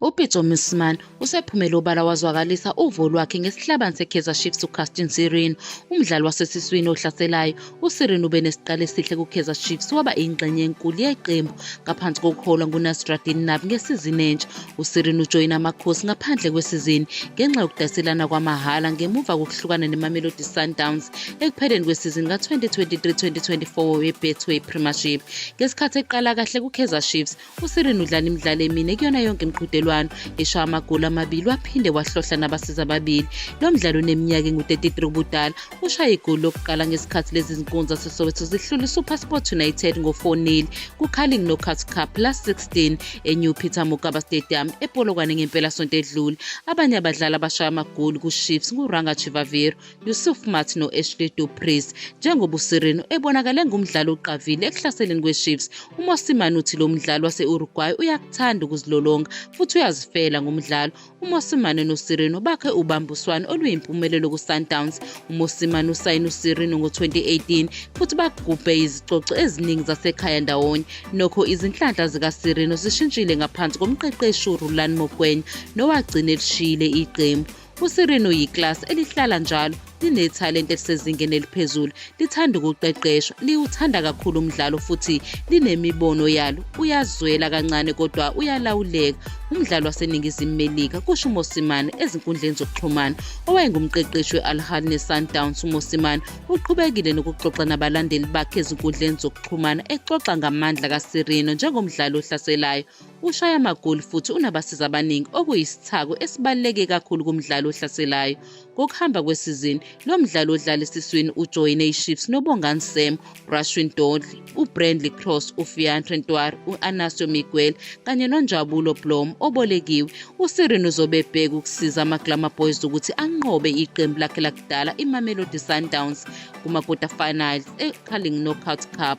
UPitso Mosimane usephumele obala wazwakalisa uvo lwakhe ngesihlabani seKaizer Chiefs uCastin Sirino. Umdlali wasesiswini ohlaselayo, uSirino ube nesiqalo esihle kuKaizer Chiefs waba ingxenye enkulu yeqembu ngaphansi kokuholwa nguNasruddin Nabi ngesizini entsha. USirino ujoyina amakhosi ngaphandle kwesizini ngenxa yokudayiselana kwamahhala ngemuva kokuhlukana neMamelodi Sundowns ekupheleni kwesizini ka-2023-2024 weBetway Premiership. Ngesikhathi eqala kahle kuKaizer Chiefs, usirin udlala imidlalo emine kuyona yonke imiqhudelwano eshaya amagoli amabili waphinde wahlohla nabasiza ababili lo mdlalo uneminyaka engu-33 ubudala ushaye igoli lokuqala ngesikhathi lezi zinkunzi zasesoweto zihlula isupersport united ngo-4 kucarling knockout cup plus 16 enew peter mokaba stadium epolokwane ngempelasonto edlule abanye abadlali abashaya amagoli kuchiefs nguranga chivaviro Yusuf Maart no-Ashley Du Preez njengoba uSirino ebonakale engumdlali oqavile ekuhlaseleni kweChiefs. UMosimane uthi lo mdlali wase-Uruguay uyakuthanda ukuzilolonga futhi uyazifela ngomdlalo. UMosimane noSirino bakhe ubambiswano oluyimpumelelo kuSundowns. UMosimane usayine uSirino ngo-2018 futhi bagubhe izicoco eziningi zasekhaya ndawonye. Nokho izinhlanhla zikaSirino zishintshile ngaphansi komqeqeshi uRulani Mokwena nowagcina elishiyile iqembu. USirino yiklasi elihlala njalo linethalente elisezingeni eliphezulu lithanda ukuqeqeshwa liwuthanda kakhulu umdlalo futhi linemibono yalo uyazwela kancane kodwa uyalawuleka umdlalo waseningizimu melika kusho umosimane ezinkundleni zokuxhumana owayengumqeqeshi we-alhal ne-sundowns umosimane uqhubekile nokuxoxa nabalandeli bakhe ezinkundleni zokuxhumana exoxa ngamandla kasirino njengomdlali ohlaselayo Ushaya amagoli futhi unabasiza abaningi okuyisithako esibaluleke kakhulu kumdlali ohlaselayo. Ngokuhamba kwesizini, lo mdlali odlala esiswini ujoyine iChiefs noBongani Sam, Rashwin Dodley, uBrandley Cross, uFiantre Ntwar, u-Anasio Miguel kanye noNjabulo Blom obolekiwe. USirin uzobe ebheka ukusiza amaGlamour Boys ukuthi anqobe iqembu lakhe lakudala iMamelodi Sundowns kuma-quarter finals eCarling Knockout Cup.